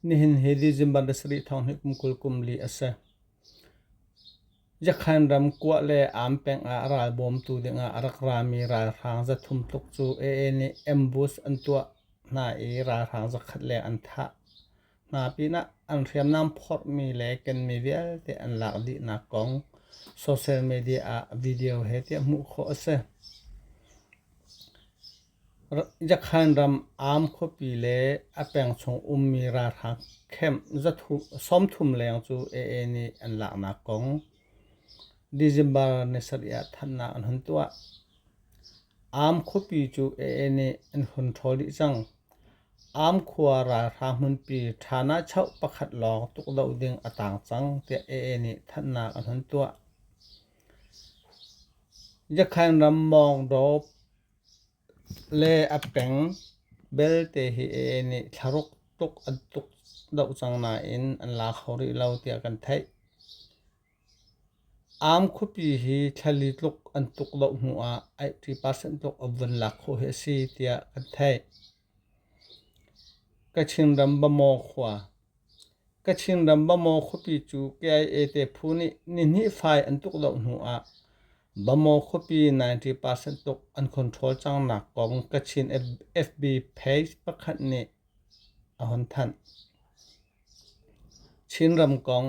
Nihin hi li Zimbabwe sarih thong hi kum kul kum li a si. Yakhan ram Kuah le Am peng ah ral bawmtu dingah a rak rami ralhrang zathum tluk cu AA nih ambush an tuah hna i ralhrang zakhat leng an thah. Hna pinah an hriamnam phorhmi le kenmi vialte an lak dihnak kong social media ah video he tiah hmuh khawh a si. Yakhan ram Am khuapi le a peng chung ummi ralhrang camp sawmthum leng cu AA nih an laknak kong December ni sarih ah thanhnak an hun tuah. Am khuapi cu AA nih an hun ṭhawl dih cang. Am khua ralhrang hmunpi ṭhanachoh pakhat lawng tukdoh ding a taang cang tiah AA nih thanhnak an hun tuah. Yakhan ram Mawngdaw Le a peng belte hi aa nih thlaruk tuk an tuk deuh cang nain an la kho rih lo tiah kan theih. Aam khuapi hi thlali tluk an tuk deuh hnuah eighty percent tluk a vun lak khawh hi a si tiah kan theih. Kachinram Bamaw khuapi cu KIA te phu nih nihnih fai an tuk loh hnu ah Bamaw khuapi 90 percent tuk an control cangnak kong Kachin FB page pakhat nih a hun thanh. Chinram kong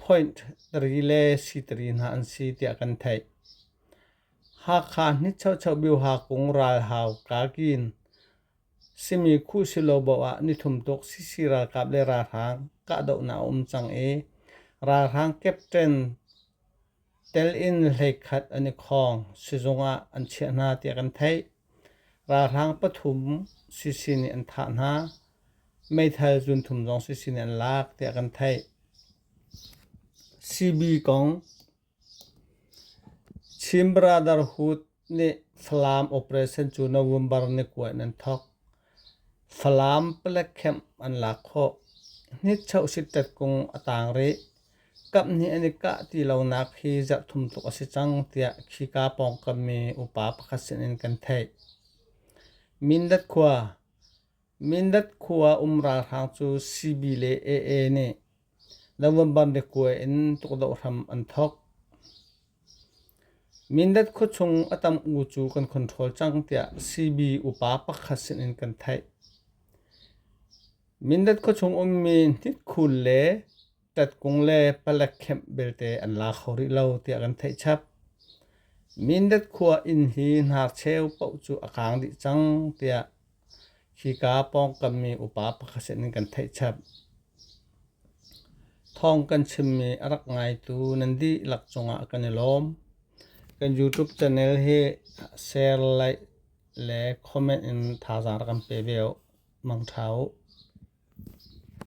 Point ri le sitiri hna an si tiah kan theih. Hakha nichocho bioha kung ralhau kagin simi khu silo boh ah nithum tuk sisi ralkap le ralhrang kahdohnak a um cang i ralhrang captain Tel in hleikhat an i khawng sizung ah an chiah hna tiah kan theih. Ralhrang pathum sisi nih an thah hna. Meithal zunthum zong sisi nih an lak tiah kan theih. CB kong Chin Brotherhood Nih Falam operation cu November ni kua in an thawk. Falam palek camp an lak khawh. Hnitchoh sittet kung a tang rih. Kaphnih an i kah ti lonak hi zarhthum tluk a si cang tiah khika pawngkam mi upa pakhat sin in kan theih. Mindat khua Mindat khua um ralhrang cu Sibi le AA nih November biakue in tukdoh hram an thawk. Mindat khuachung a tam u cu kan control cang tiah CB upa pakhat sinin kan theih. Mindat khuachung ummi hnitkul le tatkung le palek khem belte an la kho rih lo tiah kan theih chap. Mindat khua inn hi hnarcheu poh cu a kang dih cang tiah khika pawngkammi upa pakhat sin in kan theih chap. Thawng kan chimmi a rak ngaitu nan dihlak cungah kan i lawm. Kan YouTube channel hi share, like le comment in thazaang rak kan pe ve u. Mang tha u.